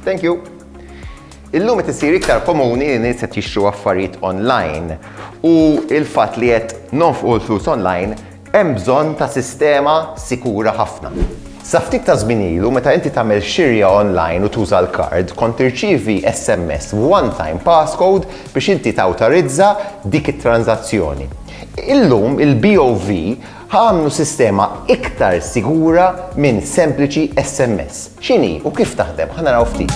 Thank you. Illum qed isir iktar komuni li nies qed jixtru affarijiet online u il-fatt li qed nonfqu l-flus online hemm bżonn ta' sistema sikura ħafna. Sa ftit ta' żmien ilu meta inti tagħmel xirja online u tuża l-kard kont tirċievi SMS one time passcode biex inti tawtorizza dik it-tranżazzjoni. Illum il-BOV Ħa għamlu sistema iktar sigura minn sempliċi SMS. X'inhi u kif taħdem? Ħa naraw ftit.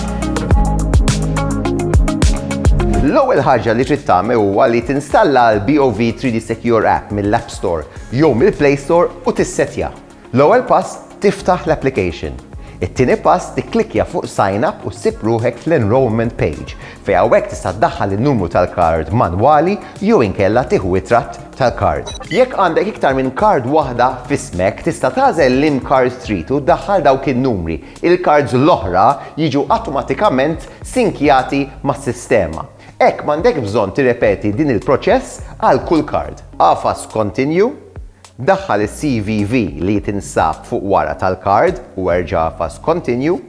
L-ewwel ħaġa li trid tagħmel huwa li tinstalla l-BOV 3D Secure app mill-App Store jew mill-Play Store u tissetja. L-ewwel pass Tiftaħ l-application. It-tieni pass tikklikkja fuq Sign Up u ssib ruħek fl-Enrolment Page, fejn hawnhekk tista' ddaħħal in-numru tal-kard manwali jew inkella tieħu ritratt tal-kard. Jekk għandek iktar minn kard waħda f'ismek, tista' tagħżel liem kard trid u ddaħħal dawk in-numri. Il-kards l-oħra jiġu awtomatikament sinkjati mas-sistema. Hekk m'għandekx bżonn tirrepeti din il-proċess għal kull kard. Agħfas Continue, daħħal is-CVV li tinsab fuq wara tal-kard u erġa' agħfas Continue,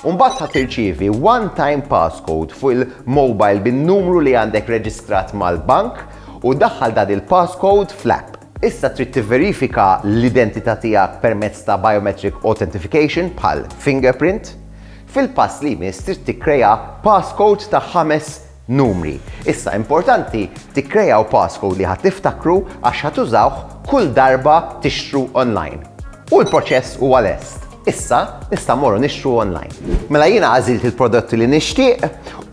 u mbagħad ħa tirċievi one time passcode fuq il-mobile bin-numru li għandek reġistrat mal-bank u daħħal dan il-passcode fl-app. Issa trid tivverifika l-identità tiegħek permezz ta' biometric authentification, bħal fingerprint. Fil-pass li jmiss trid tikkrea passcode ta' ħames numri. Issa importanti tikkreaw passcode li ħa tiftakru għax ħa tużawh kull darba tixtru online. U l-proċess huwa lest! Issa nista' mmorru nixtru online. Mela jiena għażilt il-prodotti li nixtieq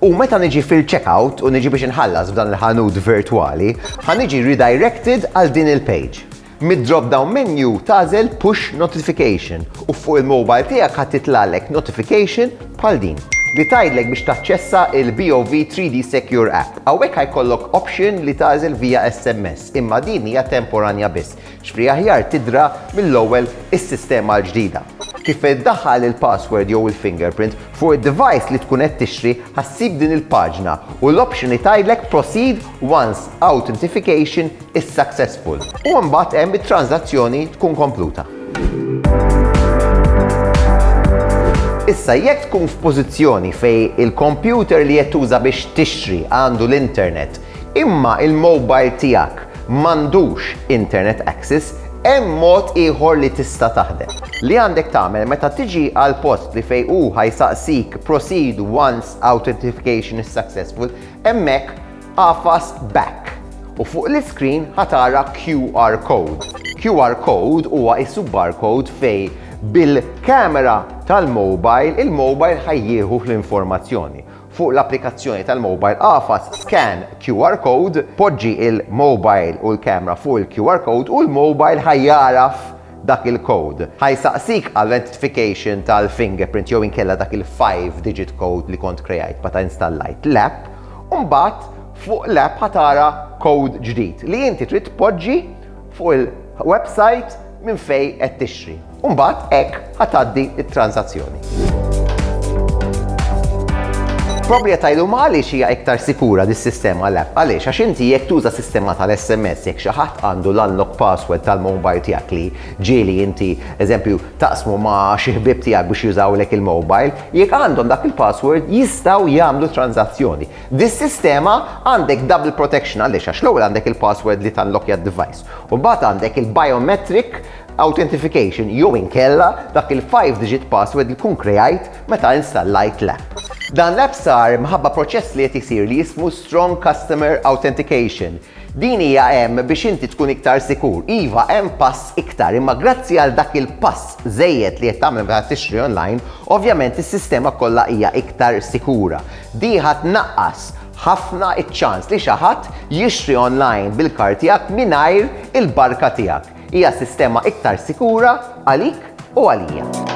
u meta niġi fil-checkout u niġi biex inħallas f'dan il-ħanut virtwali, ħa niġi redirected għal din il-page. Mid-drop down menu tagħżel Push Notification u fuq il-mobile tiegħek ħa titlagħlek notification bħal din li tgħidlek biex taċċessa il-BOV 3D Secure App. Hawnhekk ħa jkollok option li tagħżel via SMS, imma din hija temporanja biss. X'fri aħjar tidhra mill-ewwel is-sistema l-ġdida. Kif iddaħħal il-password jew il-fingerprint fuq id-device li tkun qed tixtri ħa ssib din il-paġna u l-option li tgħidlek proceed once authentification is successful u mbagħad hemm it-tranżazzjoni tkun kompluta. Issa jekk tkun f'pożizzjoni fejn il-kompjuter li qed tuża biex tixtri għandu l-internet Imma il-mobile tiegħek m'għandux internet access, hemm mod ieħor li tista' taħdem. Li għandek tagħmel meta tiġi għal post li fejn hu ħa jsaqsik proceed once authentification is successful, hemmhekk agħfas back u fuq l-iscreen ħa tara QR code. QR code huwa qisu barcode fejn bil-camera tal-mobile il-mobile ħa jieħu l-informazzjoni. Fuq l-applikazzjoni tal-mobile agħfas Scan QR Code, poġġi l-mobile u l-camera fuq il-QR Code u l-mobile ħa jagħraf dak il-code. Ħa jsaqsik għall-identification tal-fingerprint jew inkella dak il-five digit code li kont kreajt meta installajt l-app u mbagħad fuq l-app ħa tara code ġdid li inti trid tpoġġi fuq il-website minn fejn qed tixtri. U mbagħad hekk ħa tgħaddi t-tranżazzjoni. Proprjetà illum għaliex hija iktar sikura dis-sistema l-app għaliex għax inti jekk tuża sistema tal-SMS jekk xi ħadd għandu l-unlock password tal-mobile tiegħek li ġieli inti eżempju taqsmu ma' xi ħbieb tiegħek biex jużawlek il-mobile, jekk għandhom dak il-password jistgħu jagħmlu tranżazzjoni. Dis-sistema għandek double protection għaliex għax l-ewwel għandek il-password li tallokkja d-device u mbagħad għandek il-biometric Authentification jew inkella dak il-five digit password li tkun kreajt meta installajt l-app. Dan l-app sar mħabba proċess li qed isir li jismu Strong Customer Authentication. Din hija hemm biex inti tkun iktar sikur. Iva, hemm pass iktar, imma grazzi għal dak il-pass żejjed li qed tagħmel meta tixtri online, ovvjament is-sistema kollha hija iktar sikura. Di ħa tnaqqas ħafna ċ-ċans li xi ħadd jixtri online bil-kard tiegħek mingħajr il-barka tiegħek. Hija sistema iktar sikura għalik u għalija.